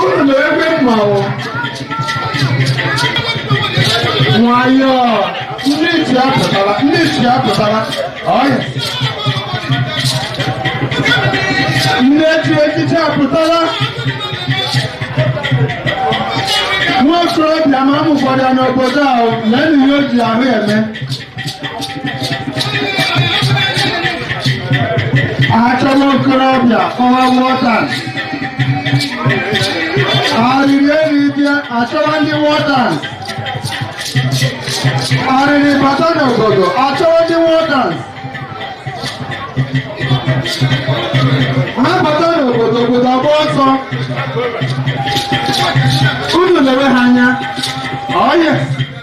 ụlọ ebe mmanwụ nwayọọ ndị isi apụtara ndị isi apụtara ọya ndị echi echichi apụtara nwa okorobịa ma amụkwara n'obodo ahụ na enyi ya o ji ahụ eme achọrọ okorobịa kọwa war dance arịrị eri bịa achọwa ndị war dance arịrị bata n'obodo achọwa ndị war dance ha bata n'obodo obodo agba ọsọ unu lewe ha anya ọyị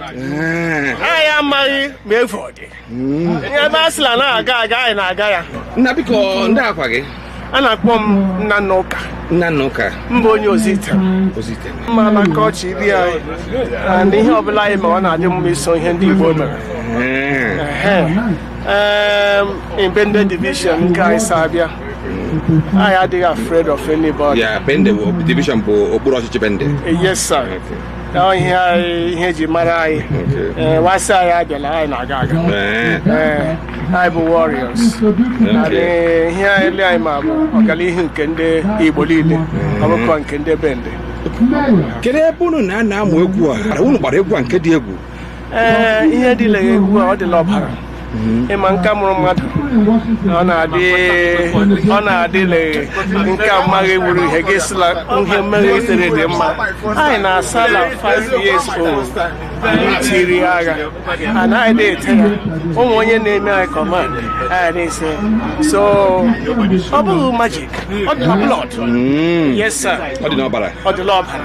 Eh. anyị amaghị ma efu ọ dị hmm. ihe ebe a sịla na aga aga anyị na-aga ya nna biko ndị aha gị a na-akpọ m Nnanna Ụka Nnanna Ụka m bụ onye Ozuitem Ozuitem ma na nke ọchị ibi anyị na ihe ọbụla anyị ma ọ na-adị mma iso ihe ndị Igbo mere eh. eh, in Bende division nke anyị si abịa anyị adịghị afraid of anybody. Yeah, Bende division bụ okpuru ọchịchị Bende. Yes, sir. Ọ ihe anyị ihe eji mara anyị Ee, wa sị anyị abịala anyị na-aga aga Ee, Ee, anyị bụ warriors Anyị, ihe anyị ele anyị ma bụ ọganihu nke ndị Igbo niile ọ bụkwa nke ndị bende kedu ebe unu na-anọ amụ egwu a unu gbara egwu a nke dị egwu ee ihe dị l'egwu a ọ dị l'ọbara ịma nke mụrụ mmadụ ọ na-adị ọ na-adịla nke a mmaghị wuru ihe gị sịla ihe mmeghe itere dị mma anyị na-asa na 5 years old te iri agha and anyị dị ete ya o nwe onye na-eme anyị command anyị na-ese so ọ bụghị magic ọ dị na blood yes sir ọ dị n'ọbara ọ dị l'ọbara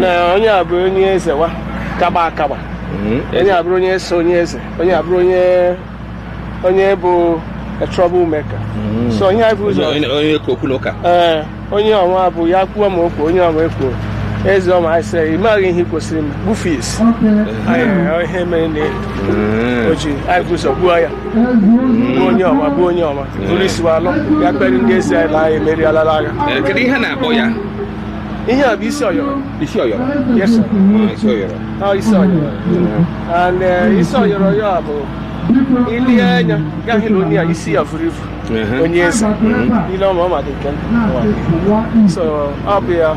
na onye a bụrụ onye eze wa kaba akaba onye a bụrụ onye so onye eze onye a bụrụ onye onye bụ a trouble maker so onye a bụ ụzọ onye ka okwu n'ụka ee onye ọnwa bụ ya kwuo ma okwu onye ọnwa ekwuo eze ọma anyị sị ị maghị ihe ị kwesịrị m gbufe isi Anyị- ihe mere na o ji anyị bu ụzọ gbuo ya gbuo onye ọma gbuo onye ọma buru isi wa alọ ya kpere ndị ezi anyị na anyị emerialala agha Eh, kedu ihe a na-akpọ ya Ihe a bụ isi ọyọrọ. Isi ọyọrọ? Yes, sir. Ah, isi ọyọrọ. Ah, isi ọyọrọ. And uh, isi ọyọrọ ya bụ i le anya ga-ahụ na onye a isi ya vuru ivu onye eze ile ọma ọ maka nke so ọ bụ ya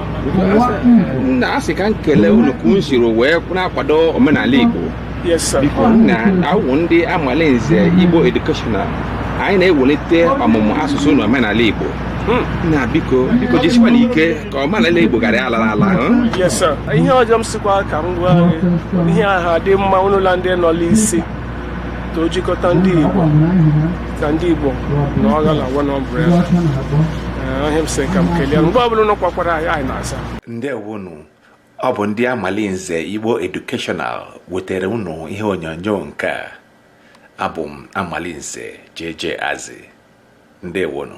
nna a sị ka m kelee unu ka unu siri wee na-akwado omenala Igbo biko na awụ ndị amalinze igbo educational anyị na-ewelite ọmụmụ asụsụ na omenala igbo hmm. nna biko biko jisikwanụ ike ka omenala igbo ghara ala ala hmm? ihe ọzọ m sịkwa ka m gwa gị ihe ahụ dị mma ụnụ la ndị nọ la isi ka e jikọta ndị igbo ka ndị igbo nọgha la one umbrella ihe a m sị ka m kelee mgbe ọbụla ụnụ kpọkwara anyị na-aza ndewonu ọ bụ ndị amalinze igbo educational wetara unu ihe onyonyo nke a abụ m amalinze JJ Azị ndewonu